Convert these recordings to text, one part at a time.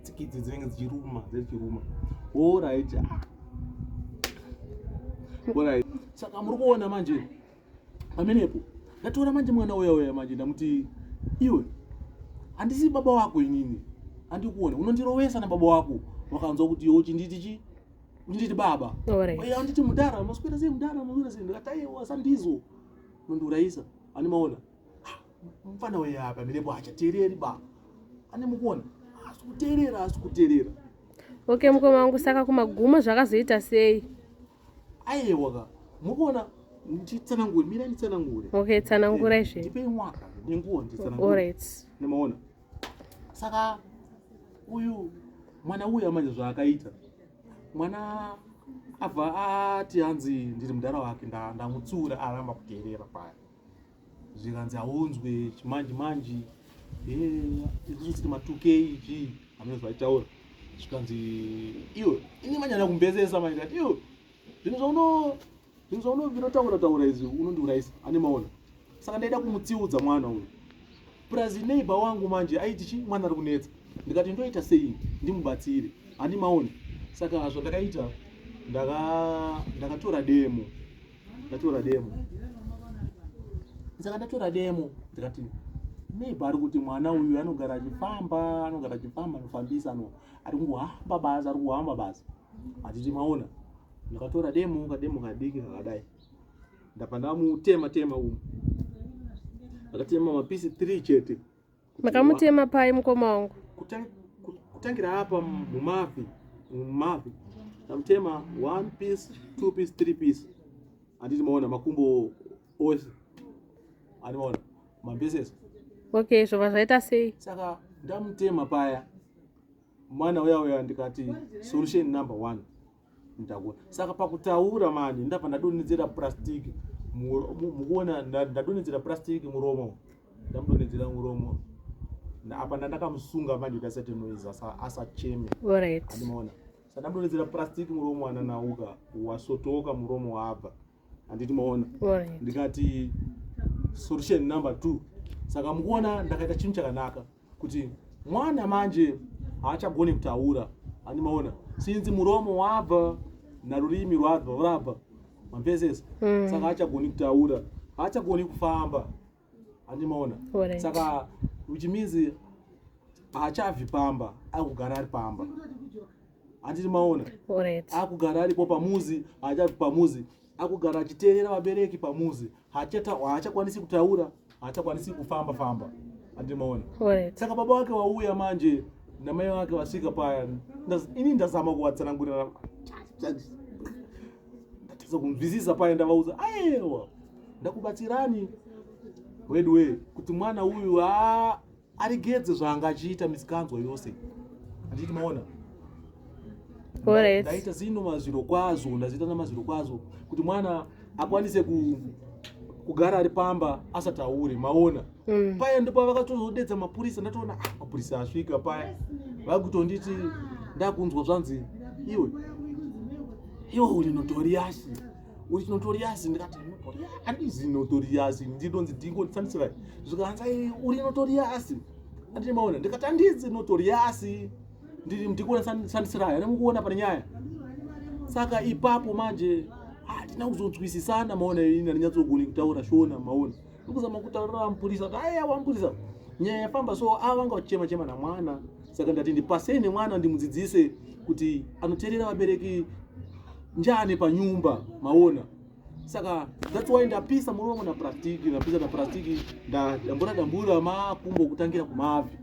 tsikidzi dzinenge dzichiruma dzechiruma orit orit saka muri kuona manje pamenepo ndatora manje mwana uya uya manje ndamuti iwe handisi baba wako inini andikuone unondirovesa nababa wako wakanzwa kuti iwe uchinditi chi uchinditi baba anditi mudhara maswera sei mudhara maswera sei ndikataiwa sandizo nondiurayisa ani maona mfana uyu apa mirepo hachateereri ba ane mukuona asi kuteerera asi kuteerera okay mukoma wangu saka kumagumo zvakazoita sei aiwa ka mukuona nditsanangure mira nditsanangure okay tsanangura eh, izve ndipei mwaka nenguva nditsanangure alright nemaona saka uyu mwana uya manje zvaakaita mwana abva ati hanzi ndiri mudhara wake ndamutsiura aramba kuteerera paya zvikanzi haunzwe chimanji manji izvozvosiri matukei chi hamuna zvaitaura zvikanzi iwe ini manyanya kumbezesa manje kati iwe zvinhu zvauno zvinhu zvaunobinotaura taura izvi unondiurayisa ane maona saka ndaida kumutsiudza mwana uyu purazi neighba wangu manje aiti chi mwana ari kunetsa ndikati ndoita sei ndimubatsire handi maona saka zvandakaita ndakatora demo ndatora demo saka ndatora demo ndikati maybe ari kuti mwana uyu anogara achifamba anogara achifamba anofambisa no ari kungohamba basa ari kuhamba basa hatiti maona ndakatora demo kademo kadiki kakadai ndabva ndamutema tema umu akatema mapisi three chete Makamutema pai mukoma wangu? Kutangira apa mumavi, mumavi. Tamutema one piece, two piece, three piece. Anditi maona makumbo ose. Anditi maona mapieces. Okay, zvova zvaita sei? Saka ndamutema paya. Mwana uya uya ndikati solution number one. ndakona saka pakutaura manje ndabva ndadonhedzera plastic mukuona ndadonhedzera plastic muromo ndamudonhedzera muromo apa ndandakamusunga manje kuti asaite noise asacheme andimaona sa ndamudonhedzera plastic muromo ananauka wasotoka muromo waabva handiti maona ndikati solution number two saka mukuona ndakaita chinhu chakanaka kuti mwana manje haachagoni kutaura andimaona sinzi muromo wabva narurimi rwabva rwabva mapesesi mm. saka haachagoni kutaura haachagoni kufamba andimaona right. saka which means haachabvi pamba akugara ari pamba handiti maona right. akugara aripo pamuzi haachabvi pamuzi akugara achiteerera vabereki pamuzi haachakwanisi kutaura haachakwanisi kufamba famba andimaona saka baba wake wauya manje namai vake vasvika paya ini ndazama kuvatsanangurira ndatadza kunzwisisa paya ndavaudza aewa ndakubatsirani weduwe kuti mwana uyu a aregedze zvaanga achiita misikanzwa yose handiti maona ndaita zino mazviro kwazvo ndaziita namazviro kwazvo kuti mwana akwanise ku kugara ari pamba asataure maona mm. paya ndipo vakatozodedza mapurisa ndatoona ah, mapurisa asvika paya vakutonditi ndakunzwa zvanzi iwe iwe uri notoriasi uti notorious ndikati notorious andizi notorious ndidonzi dingo ndifanitsirai zvikanzi ai uri notorious andine maona ndikati andizi notorious ndiri ndikuona sandisirai ane mukuona pane nyaya saka ipapo manje hatina ah, kuzonzwisisana maona ini andinyatsokuoni kutaura shona maona ndikuzama kutaurira mupurisa kuti aya wamupurisa nyaya yafamba so ava ah, vanga vachichema chema namwana saka ndati ndipasei nemwana ndimudzidzise kuti anoterera vabereki njane panyumba maona saka that's why ndapisa muri wangu naprastiki ndapisa naprastiki ndadambura dambura makumbo kutangira kumabvi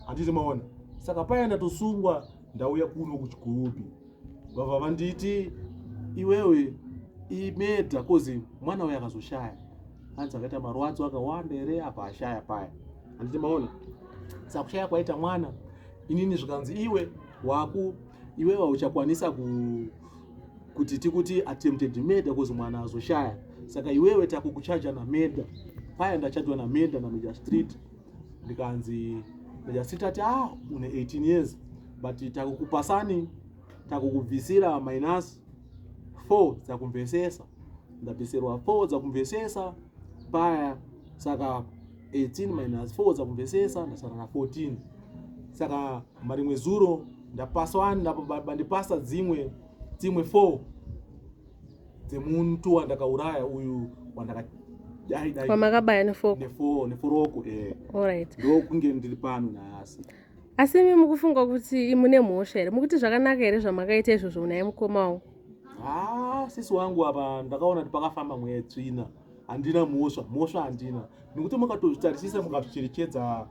handiti maona saka paya ndatosungwa ndauya kuno kuchigurubhi vabva vanditi iwewe imedha kozi mwana uyo akazoshaya hanzi akaita marwadzo akawanda here apa ashaya paya handiti maona saka kushaya kwaita mwana inini zvikanzi iwe waku iwe vauchakwanisa ku kuti tikuti attempted murder because mwana azoshaya saka iwewe takukuchaja namurder paya ndachajwa namurder nameja street ndikanzi meja street ati ah une 18 years but takukupasani takukubvisira minus 4 dzakumvesesa ndabvisirwa 4 dzakumvesesa paya saka 18 minus 4 dzakumvesesa ndasara na 14 saka marimwe zuro ndapasa wani ndapabandipasa dzimwe dzimwe 4 dzemuntu wandakauraya uyu wandakadaidaiamakabaya nefo neforoko e olright ndokunge ndiri pano nhasi asi imi mukufunga kuti mune mhosva here mukuti zvakanaka here zvamakaita izvozvo unaye mukoma wangu haa ah, sisi wangu apa ndakaona kuti pakafamba mwedzi ina handina mhosva mhosva handina nekuti makatozvitarisisa mukazvicherechedza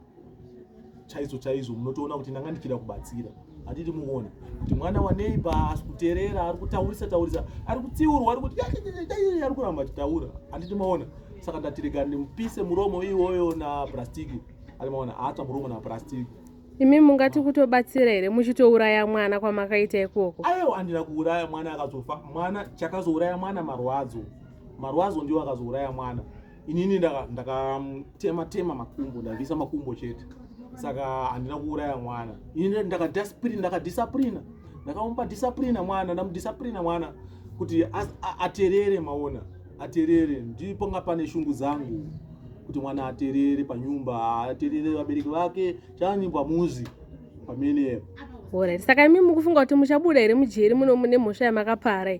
chaizvo chaizvo munotoona kuti ndanga ndichida kubatsira handiti muone kuti mwana waneighbor asi kuterera ari kutaurisa taurisa ari kutsiurwa ari kuti ari kuramba achitaura handiti maona saka ndatirega ndimupise muromo iwoyo naprastiki ari maona aatsva muromo naprastiki imi mungati kutobatsira here muchitouraya mwana kwamakaita ikoko aiwa andina kuuraya mwana akazofa mwana chakazouraya mwana marwadzo marwadzo ndiwo akazouraya mwana inini ndakatema ndaka tema makumbo ndavisa makumbo chete saka handina kuuraya mwana ini ndakadisciplina ndakadisciplina ndakamupa disciplina mwana ndamudisciplina mwana kuti aterere maona aterere ndipo nga pane shungu dzangu kuti mwana aterere panyumba aterere vabereki vake chani pamuzi pamenepo Alright. Saka imi mukufunga kuti muchabuda here mujeri muno mune mhosva yamakapara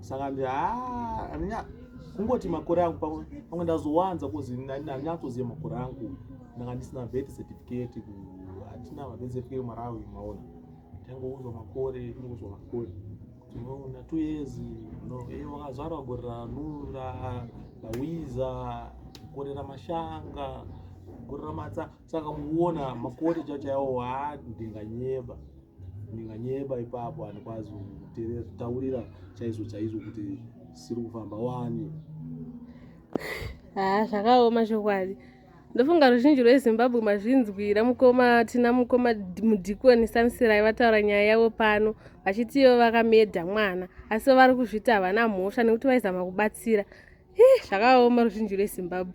saka ndi ah, andinya kungoti makore angu pamwe pamwe ndazowanza kuzi andinyatsoziva makore angu ndanga ndisina vet certificate hatina vet certificate marawi maona tangouzwa makore tingouzwa makore tinoona two years no e eh, wakazvarwa gore ranura lawiza gore ramashanga gore ramatsaa saka mukuona makoti chachaiwo haa ndinganyeba ndinganyeba ipapo handikwazi kutaurira chaizvo chaizvo kuti siri kufamba wani haa zvakaoma chokwadi ndofunga ruzhinji rwezimbabwe mazvinzwira mukoma tina mukoma mudhikoni sansirai vataura nyaya yavo pano vachiti ivo vakamedha mwana asi vari kuzviti havana mhosva nekuti vaizama kubatsira zvakaoma ruzhinji rwezimbabwe